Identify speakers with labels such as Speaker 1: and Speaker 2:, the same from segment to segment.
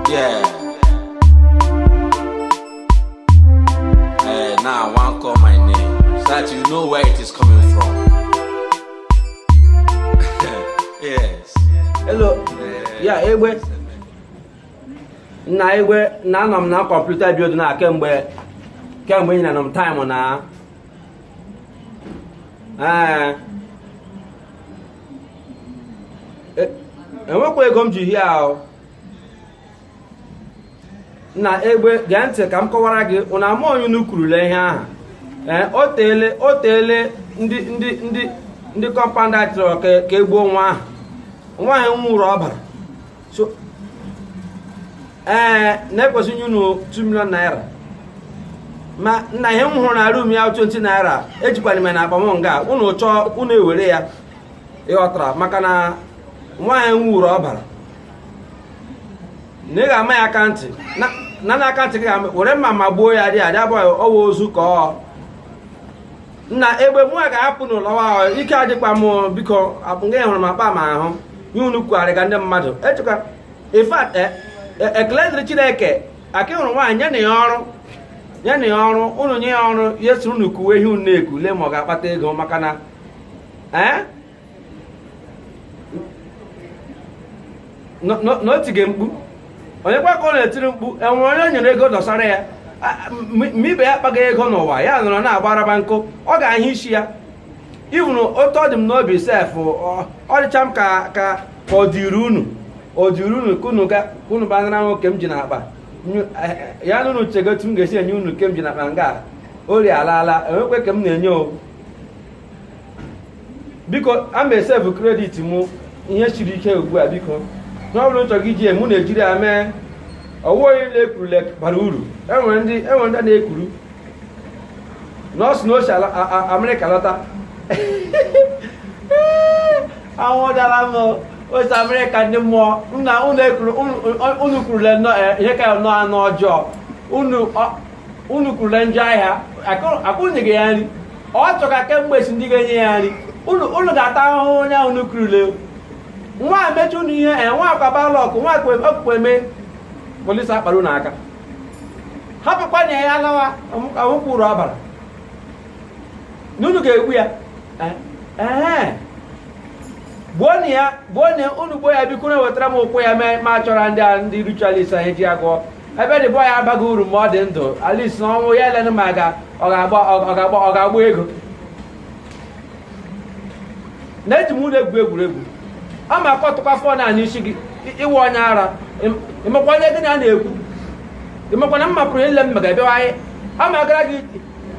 Speaker 1: Yeah. Hey, now I want call my name so that you know where it is coming from. yes. Hello. Ya egbe. Nna egbe na anọ m na computer bido na kemgbe kemgbe ị na nọ m time na. Ee. e, enwekwa ego m ji hie ahụ nna egbe gee ntị ka m kọwara gị unu ama onye unu kwurule ihe aha ee o teele o teele ndị ndị ndị ndị compound a chọrọ ka egbuo nwa ahụ nwaanyị nwụrụ ọbara so ee eh, na-ekwesị inye unu 2 million naira mana ihe m hụrụ na room ya 20 naira ejikwana m na akpa m nga unu chọọ unu ewere ya ịghọtara maka na nwaanyị nwuru ọbara na ị ga-ama ya aka ntị na na aka ntị gị ga were mma ma gbuo ya dị adị abụghị ọwa ozu ka ọ nna egbe mụ a ga-apụ n'ụlọwa ike adịkwa m biko nga hụrụ m akpa m ahụ ihe unu kugharịga ndị mmadụ echekwa in fact e, e, ekele dịrị chineke aka hụrụ nwaanyị nyenụ ya ọrụ nyenụ ya ọrụ unu nye ya ọrụ ya soro unu kuwe ihe unu na-eku lee ma ọ ga-akpata ego maka na ee eh? na o tige mkpu onyekwa ka ọ na-etiri mkpu enwere onye nyere ego dọsara ya ma ibe ya akpaga ego n'ụwa ya nọrọ na-agba arabanko ọ ga-ahụ isi ya even otu ọ dị m n'obi sef ọ dịcha m ka ka ọ dịrị unu ọ dịrị unu ka unu ga unu banara nwoke m ji n'akpa ya na unu chega otu m ga-esi enye unu nke m ji n'akpa nga ori alaala enwekwa nke m na-enye o biko a ma save credit mụ ihe siri ike ugbu a biko na ọ bụrụ nchọ gị ji mụ na-ejiri ya mee ọwụwa niile ekurule bara uru enwere ndị enwere ndị na-ekuru na o si na o si ala a- a- amerịka lọta anwụdala m o si amerịka ndị mmụọ nna unu ekuru unu- unu kurule nnọọ eh, ihe ka nnọọ anụ ọjọọ unu ọ- unu kurule njọ ahịa akụnyeghị ya nri ọ chọga kemgbe si ndị ga-enye ya nri unu ga-ata ahụhụ onye ahụ unu kurule nwa amechi unu ihe e nwa akwa bad luck nwa okpukpe eme police akpara unu aka hapụkwanụ ya lawa awụkwuru abara na unu ga-egbu ya eh, eh. gbuonụ ya gbuonụ unu gbuo ya bikonụ wetara m ụkwụ ya ma chọrọ ndị a ndị ritualist anyị ji agwọ ebe the boy a abaghị uru ma ọ dị ndụ at least na ọnwụ ya elenụ ma ga ọ ga-agba ọ ga-agba ọ ga-agba ego na eji m unu egwu egwuregwu ọ ma akọtụkwa fọn a n'isi gị ị- ị wụ onye ara Ị- ị makwa onye gị na ya na-ekwu ị makwa na m mapụrụ ihe m mega bịawa anyị ọ ma gara gị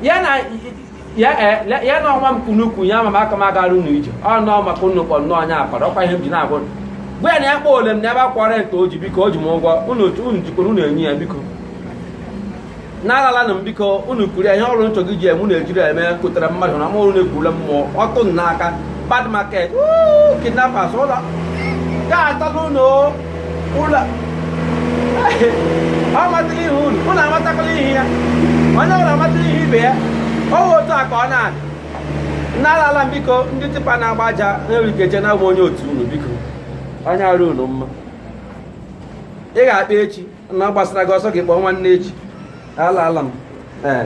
Speaker 1: ya na ya eh, ya na ọnwa m kunukwu ya maka m agara unu ije ọ nọọ maka unu kpọ nnọọ onye akpara ọkwa ihe m ji na-agwa gwa ya na ya kpọ ole m na ebe akwara nke o ji biko o ji m ụgwọ unu unu jikwara unu enye ya biko nna alaala m biko unu kwuru ya ihe ọrụ nchọ gị ji eme unu ejiri eme kụtara mmadụ na mụrụ na-ekwurula mmụọ ọtụ n'aka bad market kidnappers ụlọ ga-ata n'ụlọ ụlọ ọ matala ihu unu unu amatakwala ihu ya onye ọbụla amatala ihu ibe ya ọ bụ otu a ka ọ na-adị nna alaala m biko ndị tipa na-agba aja nwere ike che na awụ m onye otu unu biko anya arị unu mma ị ga-akpa echi na ọ gbasara gị ọsọ gị kpọọ nwanne echi alaala m ee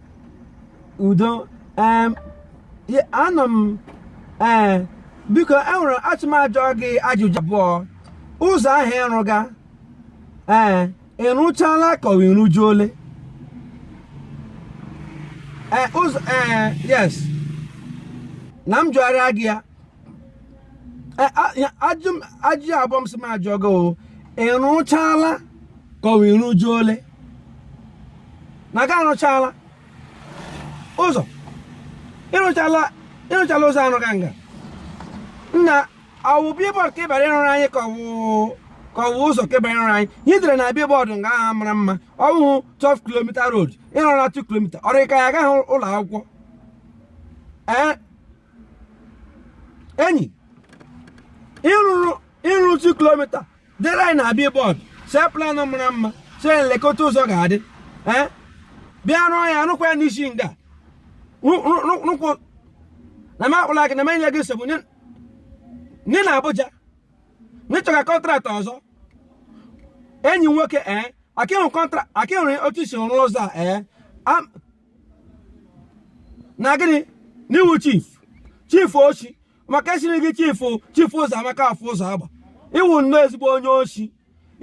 Speaker 1: udo anọ m ee eh, biko enwere asị m jụọ gị ajụjụ abụọ ụzọ ahụ ị rụga ee eh, ị rụchaala ka ọ ị rụjuole ee eh, ụzọ ee yes na m jụgharịa gị ya ajụjụ abụọ m sị m jụọ gị o ị rụchala ka ọ wụ ị rụjuole na gị arụchala ụzọ ị rụchala ị rụchala ụzọ anụ ganga nna ọ wụ billboard ka ị bịara ịrụrụ anyị ka ọ wụ ka ọ wụ ụzọ ka ị bịara ịrụrụ anyị ihe e dere na billboard nga ahụ mara mma ọwụhụ 12 kilomita road ị rụrụ na 2 kilomita ọ rị ka ị gaghị ụlọ akwụkwọ ee enyi ị rụrụ ị rụọ otu kilomita deere anyị na billboard see plan mara mma sị lekwa otu ụzọ ga-adị ee bịa rụọ ya rụkwa ya n'isi nga Rụ- rụ- rụ- rụkwụ na m akpụla gị na m enye gị nsogbu nye nye na Abuja na ị chọga contract ọzọ enyi m nwoke ee akịhụ kọntra akịhụrụ otu i si rụọ ụzọ a ee Am- na gịnị na ị wụ chief chief oshi maka e chiri gị chief chief ụzọ amaka afọ ụzọ agba ị wụ nnọọ ezigbo onye oshi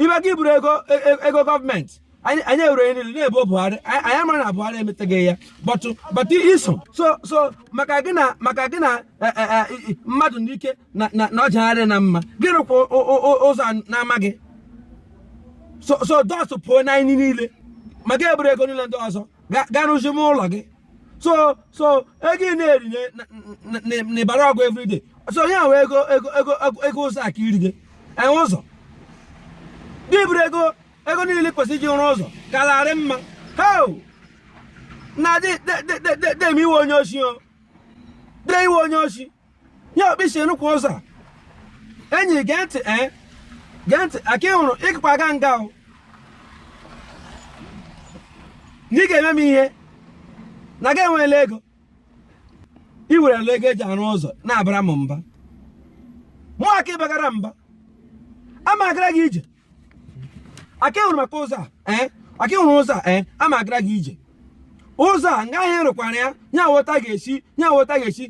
Speaker 1: ibe gị buru ego e, e, ego gọọmenti anyị ewere niile na-ebo buhari anyị amara na buhari emeteghị ya but but i so so so maka gị na maka gị na e, mmadụ n'ike na ọjagharị na mma gị rụkwa ụzọ na-amaghị so so those people na anyị niile ma ga eburu ego niile ndị ọzọ ga- ga rụzi m ụlọ gị so so ego ị na-eri n'ịbara ọgụ everyday so onye ahụ ego ụzọ a ka iri gị enwe ụzọ gị buru ego ego niile kwesịrị iji rụọ ụzọ kararị mma heo na dị m ị wụ onye oshi ọ dị ị wụ onye oshi ya okpisi nnukwu ụzọ enyi gee ntị ee eh? gee ntị aka ị hụrụ ị gakwa aga nga o na ị ga-eme m ihe na gị enweela ego ị werela ego eji arụ ụzọ na-abara m mba mụ aka ịbagara mba ama agara gị ije aka hụrụ maka ụzọ a eh? aka hụrụ ụzọ a eh? a ma agara gị ije ụzọ a nga ahịa rụkwara ya nya wụ otu a ga-esi nya wụ otu a ga-esi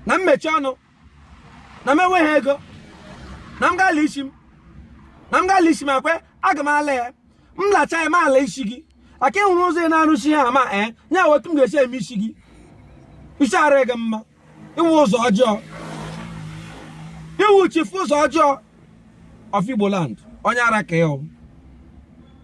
Speaker 1: na-emechi ọnụ na m enweghị ego na m gala isi m na m gala isi m akwe aga m ala ya m lacha ya m ala isi gị aka ịhụrụ ụzọ ị na-arụsi ha ama ee eh? nya wụ otu m ga-esi eme isi gị isi adịghị mma ị wụ ụzọ ọjọọ ị wụ chifu ụzọ ọjọọ of Igbo land onye ara ka ị wụ